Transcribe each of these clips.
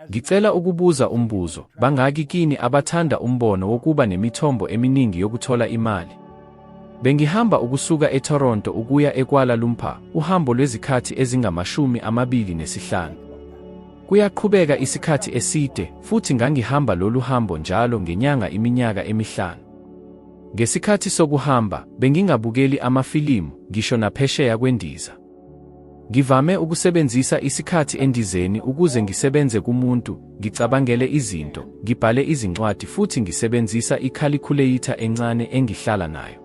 Ngicela ukubuza umbuzo, bangaki kini abathanda umbono wokuba nemithombo eminingi yokuthola imali? Bengihamba ukusuka eToronto ukuya eKuala Lumpur, uhambo lwezikhathi ezingamashumi amabili nesihlanu. Kuyaqhubeka isikhathi eside, futhi ngangihamba lolu hambo njalo ngenyanga iminyaka emihlanu. Ngesikhathi sokuhamba, bengingabukeli amafilimu, ngisho naphesheya kwendiza. Ngivame ukusebenzisa isikhathi endizeni ukuze ngisebenze kumuntu, ngicabangele izinto, ngibhale izincwadi futhi ngisebenzisa ikhalikhuleitha encane engihlala nayo.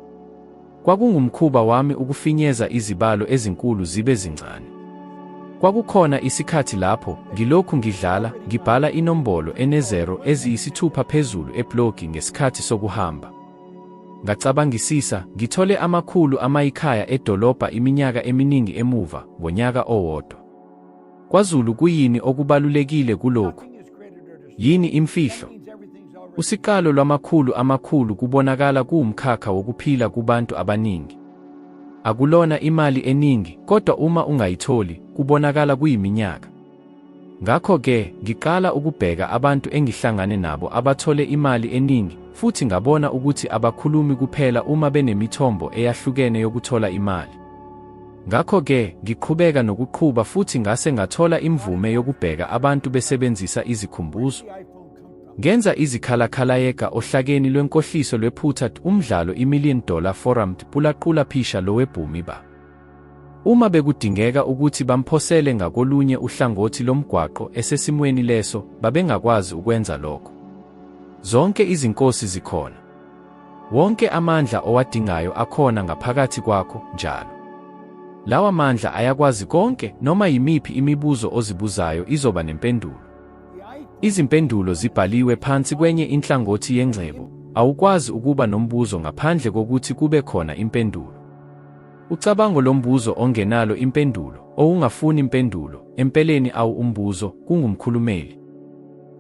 Kwakungumkhuba wami ukufinyeza izibalo ezinkulu zibe zincane. Kwakukhona isikhathi lapho, ngilokhu ngidlala, ngibhala inombolo enezero eziyisithupha phezulu eblogi ngesikhathi sokuhamba. Ngacabangisisa, ngithole amakhulu amayikhaya edolobha iminyaka eminingi emuva, ngonyaka owodwa. KwaZulu kuyini okubalulekile kulokhu? Yini imfihlo? Usiqalo lwamakhulu amakhulu kubonakala kuwumkhakha wokuphila kubantu abaningi. Akulona imali eningi, kodwa uma ungayitholi, kubonakala kuyiminyaka. Ngakho-ke, ngiqala ukubheka abantu engihlangane nabo abathole imali eningi, futhi ngabona ukuthi abakhulumi kuphela uma benemithombo eyahlukene yokuthola imali. Ngakho-ke, ngiqhubeka nokuqhuba futhi ngase ngathola imvume yokubheka abantu besebenzisa izikhumbuzo. Ngenza izikhalakhalayeka ohlakeni lwenkohliso lwephutha umdlalo iMillion Dollar Forum pulaqula phisha lowebhumi ba. Uma bekudingeka ukuthi bamphosele ngakolunye uhlangothi lomgwaqo esesimweni leso, babengakwazi ukwenza lokho. Zonke izinkosi zikhona. Wonke amandla owadingayo akhona ngaphakathi kwakho njalo. Lawa mandla ayakwazi konke, noma yimiphi imibuzo ozibuzayo izoba nempendulo. Izimpendulo zibhaliwe phansi kwenye inhlangothi yengcebo, awukwazi ukuba nombuzo ngaphandle kokuthi kube khona impendulo. Ucabango lombuzo ongenalo impendulo, owungafuni impendulo, empeleni awu umbuzo, kungumkhulumeli.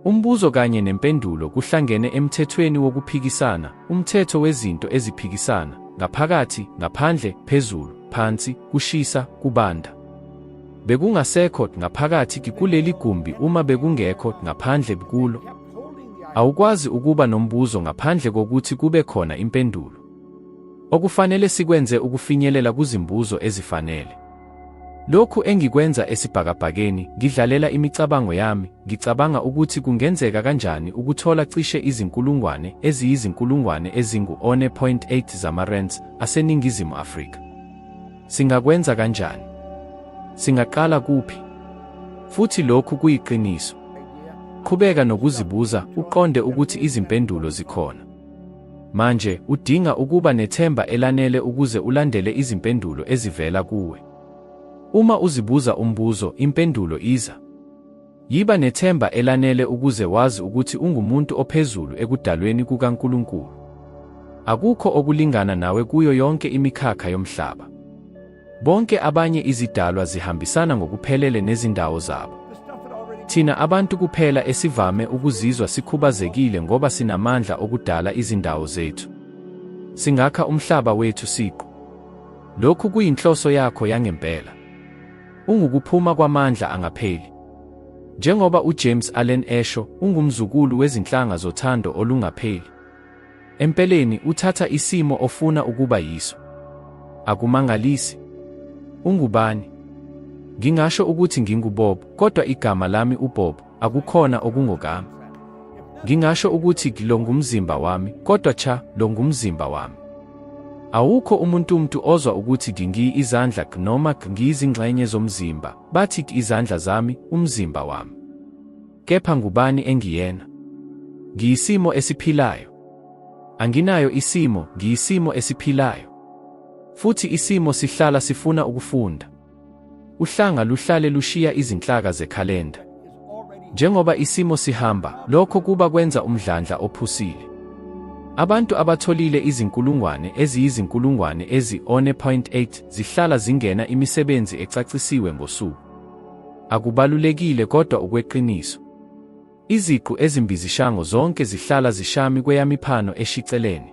Umbuzo kanye nempendulo kuhlangene emthethweni wokuphikisana, umthetho wezinto eziphikisana, ngaphakathi, ngaphandle, phezulu, phansi, kushisa, kubanda. Bekungasekho ngaphakathi kikuleli gumbi uma bekungekho ngaphandle bkulo. Awukwazi ukuba nombuzo ngaphandle kokuthi kube khona impendulo. Okufanele sikwenze ukufinyelela kuzimbuzo ezifanele. Lokhu engikwenza esibhakabhakeni, ngidlalela imicabango yami, ngicabanga ukuthi kungenzeka kanjani ukuthola cishe izinkulungwane eziyizinkulungwane ezingu-1.8 zamaRands aseNingizimu Afrika. Singakwenza kanjani? Singaqala kuphi? Futhi lokhu kuyiqiniso. Qhubeka nokuzibuza, uqonde ukuthi izimpendulo zikhona. Manje, udinga ukuba nethemba elanele ukuze ulandele izimpendulo ezivela kuwe. Uma uzibuza umbuzo, impendulo iza. Yiba nethemba elanele ukuze wazi ukuthi ungumuntu ophezulu ekudalweni kukaNkulunkulu. Akukho okulingana nawe kuyo yonke imikhakha yomhlaba. Bonke abanye izidalwa zihambisana ngokuphelele nezindawo zabo. Thina abantu kuphela esivame ukuzizwa sikhubazekile ngoba sinamandla okudala izindawo zethu. Singakha umhlaba wethu siqu. Lokhu kuyinhloso yakho yangempela. Ungukuphuma kwamandla angapheli. Njengoba uJames Allen esho, ungumzukulu wezinhlanga zothando olungapheli. Empeleni, uthatha isimo ofuna ukuba yiso. Akumangalisi. Ungubani? Ngingasho ukuthi nginguBob, kodwa igama lami uBob, akukhona okungokami. Ngingasho ukuthi lo ngumzimba wami, kodwa cha, lo ngumzimba wami. Awukho umuntumtu ozwa ukuthi ngingi izandla noma ngiyizingxenye zomzimba, bathi izandla zami, umzimba wami. Kepha ngubani engiyena? Ngiyisimo esiphilayo. Anginayo isimo, ngiyisimo esiphilayo. Futhi isimo sihlala sifuna ukufunda. Uhlanga luhlale lushiya izinhlaka zekhalenda. Njengoba isimo sihamba, lokho kuba kwenza umdlandla ophusile. Abantu abatholile izinkulungwane eziyizinkulungwane ezi-1.8 zihlala zingena imisebenzi ecacisiwe ngosuku. Akubalulekile kodwa ukweqiniso. Iziqu ezimbizishango zonke zihlala zishami kweyamiphano eshiceleni.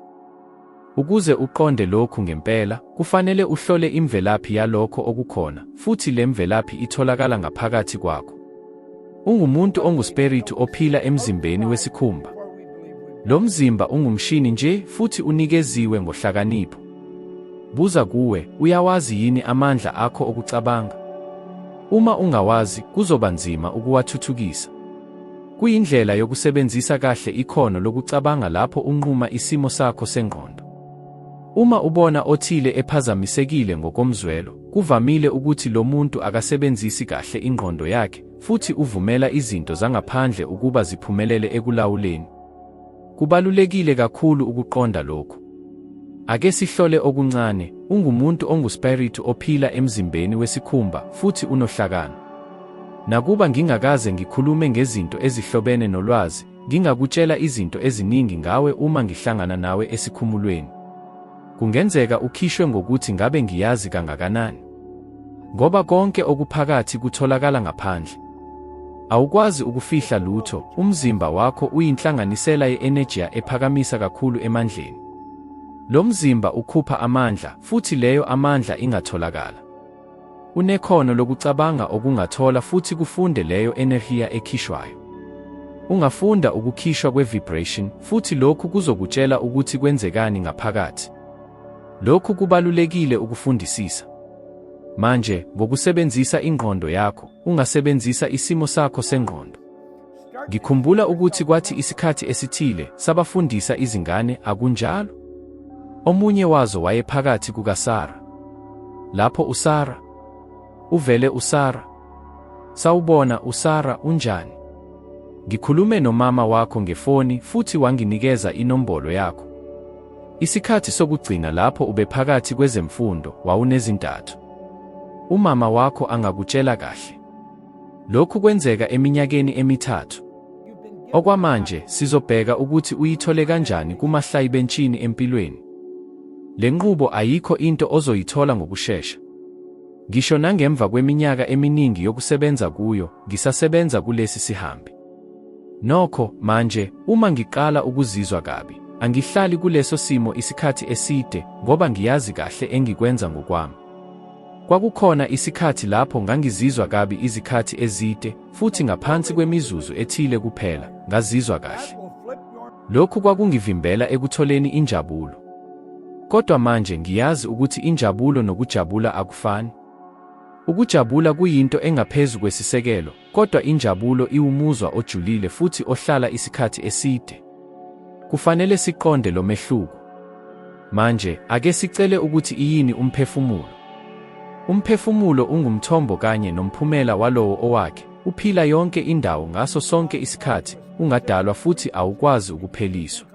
Ukuze uqonde lokhu ngempela, kufanele uhlole imvelaphi yalokho okukhona, futhi le mvelaphi itholakala ngaphakathi kwakho. Ungumuntu onguspiritu ophila emzimbeni wesikhumba. Lo mzimba ungumshini nje futhi unikeziwe ngohlakanipho. Buza kuwe, uyawazi yini amandla akho okucabanga? Uma ungawazi, kuzoba nzima ukuwathuthukisa. Kuyindlela yokusebenzisa kahle ikhono lokucabanga lapho unquma isimo sakho sengqondo. Uma ubona othile ephazamisekile ngokomzwelo, kuvamile ukuthi lo muntu akasebenzisi kahle ingqondo yakhe futhi uvumela izinto zangaphandle ukuba ziphumelele ekulawuleni. Kubalulekile kakhulu ukuqonda lokhu. Ake sihlole okuncane, ungumuntu onguspiritu ophila emzimbeni wesikhumba futhi unohlakani. Nakuba ngingakaze ngikhulume ngezinto ezihlobene nolwazi, Ngingakutshela izinto eziningi ngawe uma ngihlangana nawe esikhumulweni. Kungenzeka ukhishwe ngokuthi ngabe ngiyazi kangakanani. Ngoba konke okuphakathi kutholakala ngaphandle. Awukwazi ukufihla lutho, umzimba wakho uyinhlanganisela ye-enejiya ephakamisa kakhulu emandleni. Lo mzimba ukhupha amandla, futhi leyo amandla ingatholakala. Unekhono lokucabanga okungathola futhi kufunde leyo enerhiya ekhishwayo. Ungafunda ukukhishwa kwe-vibration futhi lokhu kuzokutshela ukuthi kwenzekani ngaphakathi. Lokhu kubalulekile ukufundisisa. Manje, ngokusebenzisa ingqondo yakho, ungasebenzisa isimo sakho sengqondo. Ngikhumbula ukuthi kwathi isikhathi esithile sabafundisa izingane, akunjalo? Omunye wazo wayephakathi kukaSara. Lapho uSara uvele uSara. Sawubona uSara unjani? Ngikhulume nomama wakho ngefoni futhi wanginikeza inombolo yakho. Isikhathi sokugcina lapho ubephakathi kwezemfundo wawunezintathu. Umama wakho angakutshela kahle. Lokhu kwenzeka eminyakeni emithathu. Okwamanje sizobheka ukuthi uyithole kanjani kumahlayi bentshini empilweni. Le nqubo ayikho into ozoyithola ngokushesha. Ngisho nangemva kweminyaka eminingi yokusebenza kuyo, ngisasebenza kulesi sihambi. Nokho, manje, uma ngiqala ukuzizwa kabi, angihlali kuleso simo isikhathi eside ngoba ngiyazi kahle engikwenza ngokwami. Kwakukhona isikhathi lapho ngangizizwa kabi izikhathi ezide, futhi ngaphansi kwemizuzu ethile kuphela, ngazizwa kahle. Lokhu kwakungivimbela ekutholeni injabulo. Kodwa manje ngiyazi ukuthi injabulo nokujabula akufani. Ukujabula kuyinto engaphezu kwesisekelo, Kodwa injabulo iwumuzwa ojulile futhi ohlala isikhathi eside. Kufanele siqonde lo mehluko. Manje, ake sicele ukuthi iyini umphefumulo. Umphefumulo ungumthombo kanye nomphumela walowo owakhe, uphila yonke indawo ngaso sonke isikhathi, ungadalwa futhi awukwazi ukupheliswa.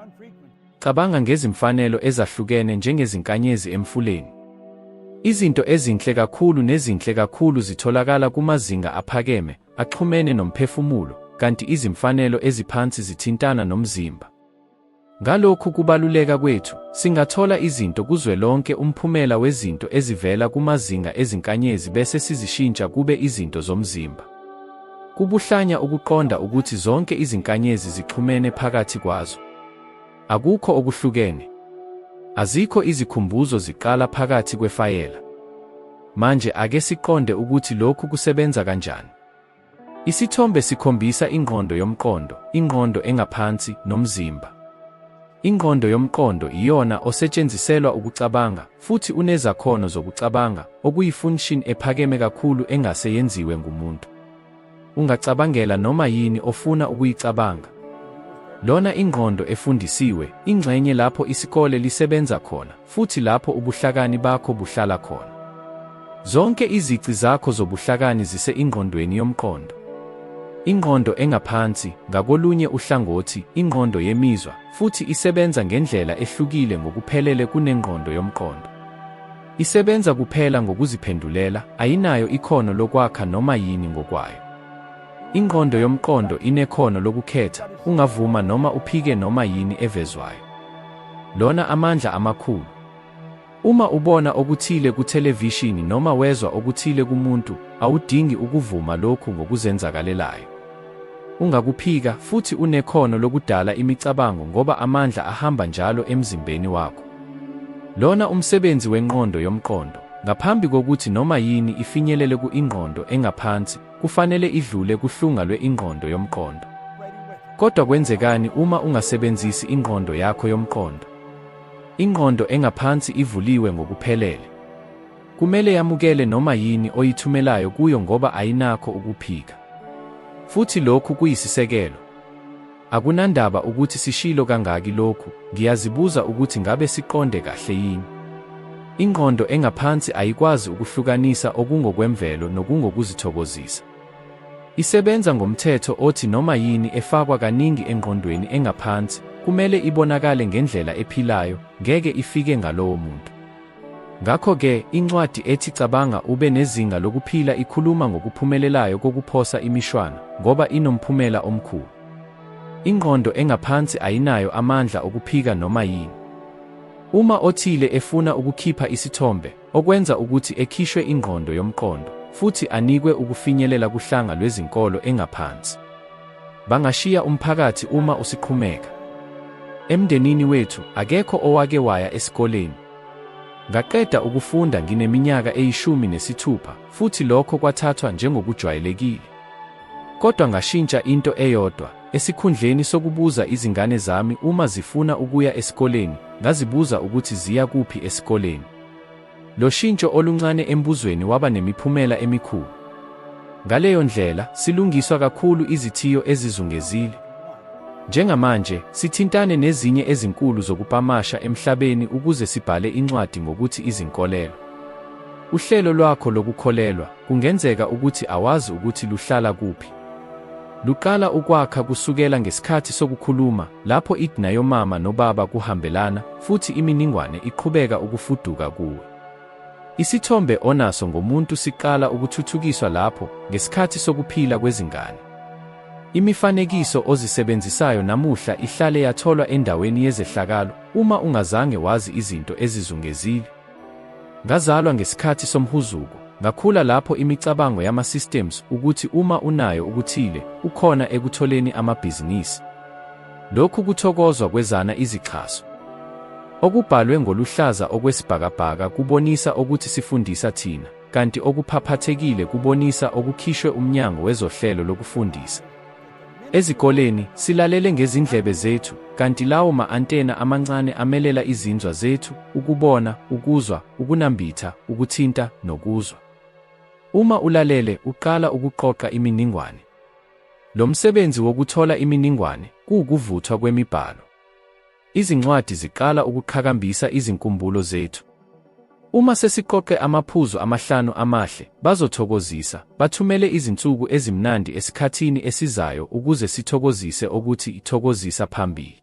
Cabanga ngezimfanelo ezahlukene njengezinkanyezi emfuleni. Izinto ezinhle kakhulu nezinhle kakhulu zitholakala kumazinga aphakeme, axhumene nomphefumulo, kanti izimfanelo eziphansi zithintana nomzimba. Ngalokhu kubaluleka kwethu, singathola izinto kuzwelonke umphumela wezinto ezivela kumazinga ezinkanyezi bese sizishintsha kube izinto zomzimba. Kubuhlanya ukuqonda ukuthi zonke izinkanyezi zixhumene phakathi kwazo. Akukho okuhlukene. Azikho izikhumbuzo ziqala phakathi kwefayela. Manje ake siqonde ukuthi lokhu kusebenza kanjani. Isithombe sikhombisa ingqondo yomqondo, ingqondo engaphansi, nomzimba. Ingqondo yomqondo iyona osetshenziselwa ukucabanga, futhi unezakhono zokucabanga, okuyifunction ephakeme kakhulu engase yenziwe ngumuntu. Ungacabangela noma yini ofuna ukuyicabanga. Lona ingqondo efundisiwe, ingxenye lapho isikole lisebenza khona, futhi lapho ubuhlakani bakho buhlala khona. Zonke izici zakho zobuhlakani zise ingqondweni yomqondo. Ingqondo engaphansi, ngakolunye uhlangothi, ingqondo yemizwa, futhi isebenza ngendlela ehlukile ngokuphelele kunengqondo yomqondo. Isebenza kuphela ngokuziphendulela, ayinayo ikhono lokwakha noma yini ngokwayo. Ingqondo yomqondo inekhono lokukhetha, ungavuma noma uphike noma yini evezwayo. Lona amandla amakhulu. Uma ubona okuthile kuthelevishini noma wezwa okuthile kumuntu, awudingi ukuvuma lokhu ngokuzenzakalelayo. Ungakuphika futhi unekhono lokudala imicabango ngoba amandla ahamba njalo emzimbeni wakho. Lona umsebenzi wenqondo yomqondo. Ngaphambi kokuthi noma yini ifinyelele ku-ingqondo engaphansi, kufanele idlule kuhlunga lwe-ingqondo yomqondo. Kodwa kwenzekani uma ungasebenzisi ingqondo yakho yomqondo? Ingqondo engaphansi ivuliwe ngokuphelele. Kumele yamukele noma yini oyithumelayo kuyo ngoba ayinakho ukuphika. Futhi lokhu kuyisisekelo. Akunandaba ukuthi sishilo kangaki lokhu, ngiyazibuza ukuthi ngabe siqonde kahle yini. Ingqondo engaphansi ayikwazi ukuhlukanisa okungokwemvelo nokungokuzithokozisa. Isebenza ngomthetho othi noma yini efakwa kaningi engqondweni engaphansi kumele ibonakale ngendlela ephilayo, ngeke ifike ngalowo muntu. Ngakho-ke, incwadi ethi Cabanga Ube Nezinga Lokuphila ikhuluma ngokuphumelelayo kokuphosa imishwana, ngoba inomphumela omkhulu. Ingqondo engaphansi ayinayo amandla okuphika noma yini. Uma othile efuna ukukhipha isithombe, okwenza ukuthi ekhishwe ingqondo yomqondo, futhi anikwe ukufinyelela kuhlanga lwezinkolo engaphansi. Bangashiya umphakathi uma usiqhumeka. Emndenini wethu akekho owake waya esikoleni. Ngaqeda ukufunda ngineminyaka eyishumi nesithupha futhi lokho kwathathwa njengokujwayelekile. Kodwa ngashintsha into eyodwa, esikhundleni sokubuza izingane zami uma zifuna ukuya esikoleni, ngazibuza ukuthi ziya kuphi esikoleni. Lo shintsho oluncane embuzweni waba nemiphumela emikhulu. Ngaleyo ndlela, silungiswa kakhulu izithiyo ezizungezile. Njengamanje, sithintane nezinye ezinkulu zokupamasha emhlabeni ukuze sibhale incwadi ngokuthi izinkolelo. Uhlelo lwakho lokukholelwa, kungenzeka ukuthi awazi ukuthi luhlala kuphi. Luqala ukwakha kusukela ngesikhathi sokukhuluma, lapho idna yomama nobaba kuhambelana, futhi iminingwane iqhubeka ukufuduka kuwe. Isithombe onaso ngomuntu siqala ukuthuthukiswa lapho, ngesikhathi sokuphila kwezingane. Imifanekiso ozisebenzisayo namuhla ihlale yatholwa endaweni yezehlakalo, uma ungazange wazi izinto ezizungezile. Ngazalwa ngesikhathi somhuzuko, ngakhula lapho imicabango yama-systems ukuthi uma unayo ukuthile, ukhona ekutholeni amabhizinisi. Lokhu kuthokozwa kwezana izixhaso. Okubhalwe ngoluhlaza okwesibhakabhaka kubonisa okuthi sifundisa thina, kanti okuphaphathekile kubonisa okukhishwe uMnyango wezoHlelo lokuFundisa. Ezikoleni, silalele ngezindlebe zethu, kanti lawo ma-antena amancane amelela izinzwa zethu, ukubona, ukuzwa, ukunambitha, ukuthinta, nokuzwa. Uma ulalele, uqala ukuqoqa iminingwane. Lo msebenzi wokuthola iminingwane, kuwukuvuthwa kwemibhalo. Izincwadi ziqala ukuqhakambisa izinkumbulo zethu. Uma sesiqoqe amaphuzu amahlanu amahle, bazothokozisa, bathumele izinsuku ezimnandi esikhathini esizayo ukuze sithokozise okuthi ithokozisa phambili.